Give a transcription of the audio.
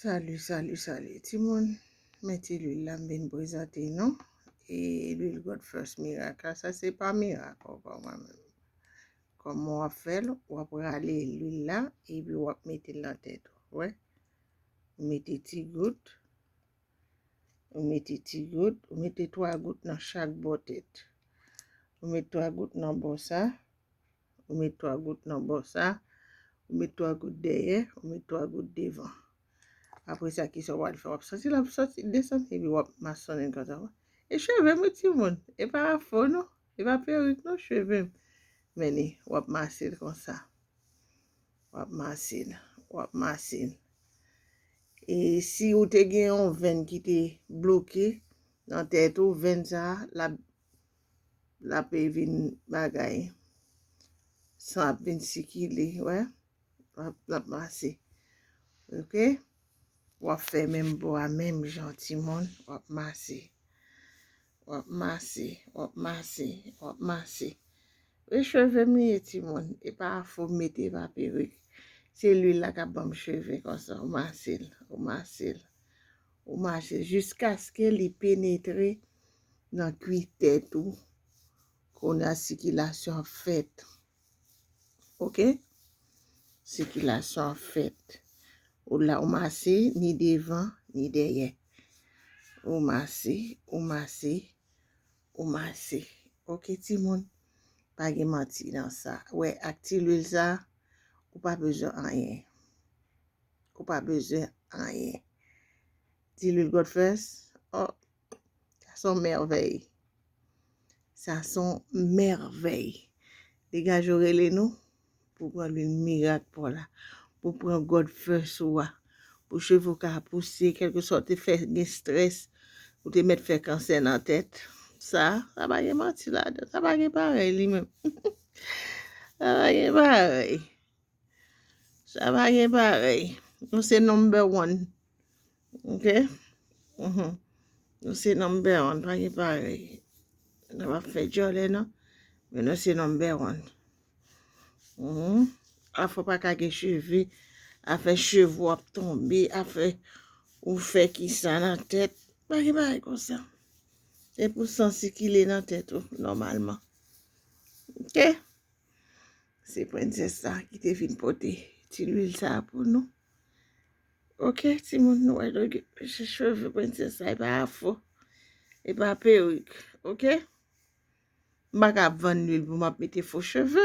Salut salut salut ti moun men ti lwil la m vin prezante nou e lwil God first miracle la sa se pa mirak ankò mwen menm kòman w ap fè l w ap rale lwil la epi w ap mete l nan tèt ou wè ou mete ti gout ou mete ti gout ou mete 3 gout nan chak bò tèt ou mete 3 gout nan bò sa Ou met 3 gout nan bò sa. Ou met 3 gout dèyè. Ou met 3 gout devan. Apre sa ki sa wap fè. Wap santi lap santi desann. E pi wap masonnen konsa. E cheve mwen ti moun. E pa afro non. E pa perik non cheve. Men ni wap masil konsa. Wap masil. Wap masil. E si ou te gen yon venn ki te bloke. Nan tèt ou venn sa. Lap lape vin bagay san ap vin sikile wè lap mase ok wap fè menm bo a menm jan ti moun wap mase wap mase wap mase wap mase e cheve m ye ti moun e pa fo mete pa perik se lwil la kap banm cheve konsa w mase l w mase l w mase l jiskaske li penetre nan kwi tèt ou kounye a sikilasyon ap fèt ok sikilasyon ap fèt ou la ou mase ni devan ni dèyè ou mase ou mase ou mase ok ti moun pa gen manti nan sa wè ak ti lwil sa ou pa bezwen anyen ou pa bezwen anyen ti lwil god first oh Sa son mèvèy. Sa son mèvèy. Degaj ou rele nou pou pran lwil mirak pou la. Pou pran God first ou a. Pou cheve ou ka pouse kelke sa ou te fè gen stress ou te met fè kansè nan tèt. Sa, sa pa gen manti ladan. Sa pa gen parèy li menm. Sa pa gen parèy. Sa pa gen parèy. Nou se number one. Ok? Mhm. Nou se number one. Pa gen parèy. Nou pa fè djòlè nan. Men nou se number one. Mhm. A fò pa ka gen cheve. A fè cheve wap tombe. A fè ou fè ki sa nan tèt. Pa gen parèy kon sa. Se pou san sikile nan tèt ou. Nòmalman. Ok? Se prensès sa ki te vin pote ti lwil sa pou nou. Ok, ti moun nou wè do se cheve prensès sa, e pa afro, e pa perik, ok? M baka ap vann lwil pou m ap mete fo cheve.